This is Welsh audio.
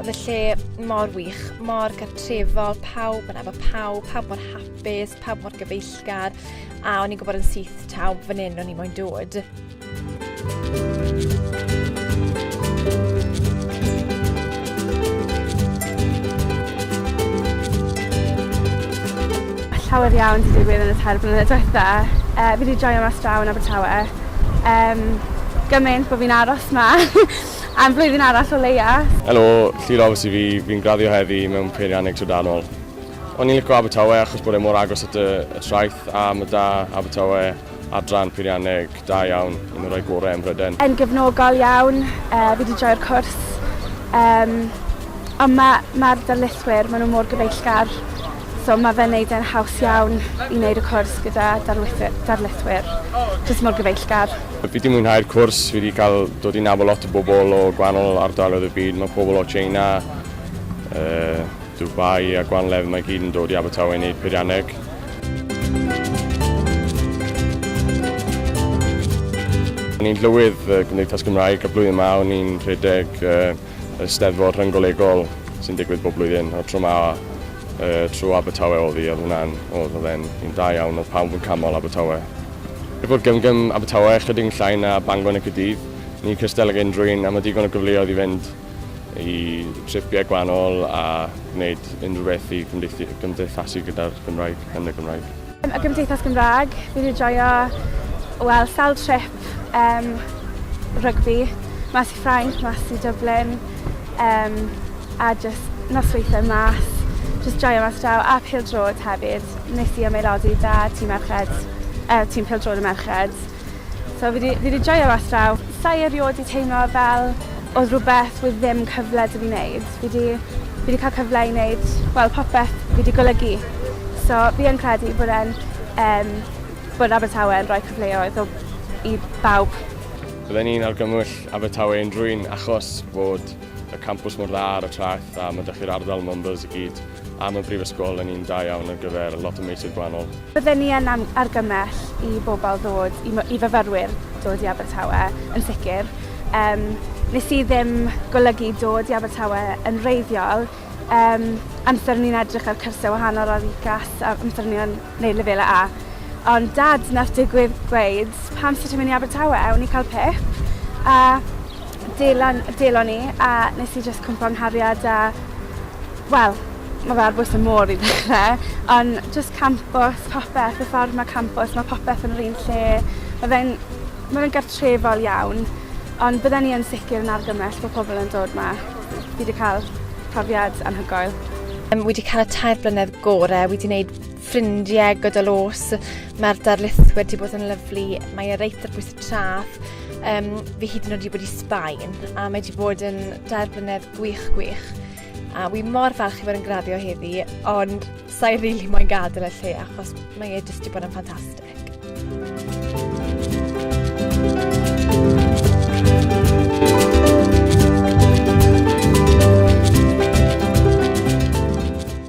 Oedd y lle mor wych, mor gartrefol, pawb yn efo pawb, pawb mor hapus, pawb mor gyfeillgar, a o'n i'n gwybod yn syth taw fan hyn o'n i'n moyn dod. llawer iawn wedi digwydd yn y tair blynedd diwetha. Uh, fi wedi joio mas draw yn Abertawe. Um, gymaint bod fi'n aros ma. Am flwyddyn arall o leia. Helo, Llu Roberts i fi, fi'n graddio heddi mewn peirianneg trydanol. O'n i'n lico Abertawe achos bod e mor agos at y, y traeth a mae da Abertawe adran peirianneg da iawn, un o'r rhai gorau ym Mhryden. Yn gefnogol iawn, uh, fi wedi joio'r cwrs. Um, ond mae ma darlithwyr, maen nhw mor gyfeillgar. So ma' fe'n neud e'n haws iawn i neud y cwrs gyda darlithy- darlithwyr jyst mor gyfeillgar. Fi 'di mwynhau'r cwrs, fi 'di cael dod i nabod lot o bobl o gwahanol ardaloedd y byd, mae pobl o Tsieina, yy Dubai a gwahanol lefydd 'ma i gyd yn dod i Abertawe i wneud peirianneg. O'n i'n llywydd y Gymdeithas Gymraeg y blwyddyn 'ma, o'n i'n rhedeg yy yr Eisteddfod Rhyng-golegol sy'n digwydd bob blwyddyn, a'r tro 'ma yy trwy Abertawe o'dd 'i, o'dd hwnna'n o'dd o'dd e'n un da iawn, o'dd pawb yn canmol Abertawe. Er bod Gym Gym Abertawe ychydig yn llai na Bangor neu Caerdydd, ni'n cystal ag unrhyw un a ma' digon o gyfleoedd i fynd i tripie gwahanol a gwneud unrhyw beth i gymdeithu- gymdeithasu gyda'r Gymraeg, yn y Gymraeg. Y Gymdeithas Gymraeg, fi wedi joio, wel, sawl trip um, rygbi, mas i Ffrainc, mas i Dublin, um, a just nosweithau mas, just joio mas draw, a pildrod hefyd. Nes i ymaelodi da tîm merched, uh, tîm pildrod y merched. So fi 'di fi 'di joio mas draw. Sai erioed 'di teimlo fel odd rwbeth with ddim cyfle 'da fi neud. Fi 'di fi 'di ca'l cyfle i neud wel popeth fi 'di golygu. So fi yn credu bod e'n yym bod Abertawe yn rhoi cyfleoedd o i bawb. Bydden i'n argymwll Abertawe unrhywun achos fod y campws mor dda ar y traeth a ma' 'da chi'r ardal Mumbles i gyd a ma' Brifysgol yn un da iawn ar gyfer lot o meysydd gwahanol. Bydden ni yn argymell i bobl ddod, i fyfyrwyr dod i Abertawe yn sicr. Yym, nes i ddim golygu dod i Abertawe yn wreiddiol, yym, amser o'n i'n edrych ar cyrsiau wahanol ar UCAS, amser o'n i'n neud Lefelau A. Ond Dad nath digwydd gweud, pam amser ti'n mynd i Abertawe? O'n i'n cael pip, a delon, delon i, a nes i jyst cwmpo nghariad a Wel ma' fe ar bwys y môr i ddechre on' jyst campws popeth y ffordd ma' campws ma' popeth yn yr un lle ma' fe'n ma' fe'n gartrefol iawn ond bydden i yn sicir yn argymell bo' pobol yn dod 'ma. Fi 'di ca'l profiad anhygoel. Yym wi 'di ca'l y tair blynedd gore wi 'di neud ffrindie gydol o's ma'r darlithwyr 'di bod yn lyfli mae e reit ar bwys y traeth yym fi hyd yn o'd 'di bod i Sbaen a mae 'di bod yn dair blynedd gwych gwych. A wi mor falch i fod yn graddio heddi, ond sa'i rili really moyn gadael y lle achos mae e jyst wedi bod yn ffantastig.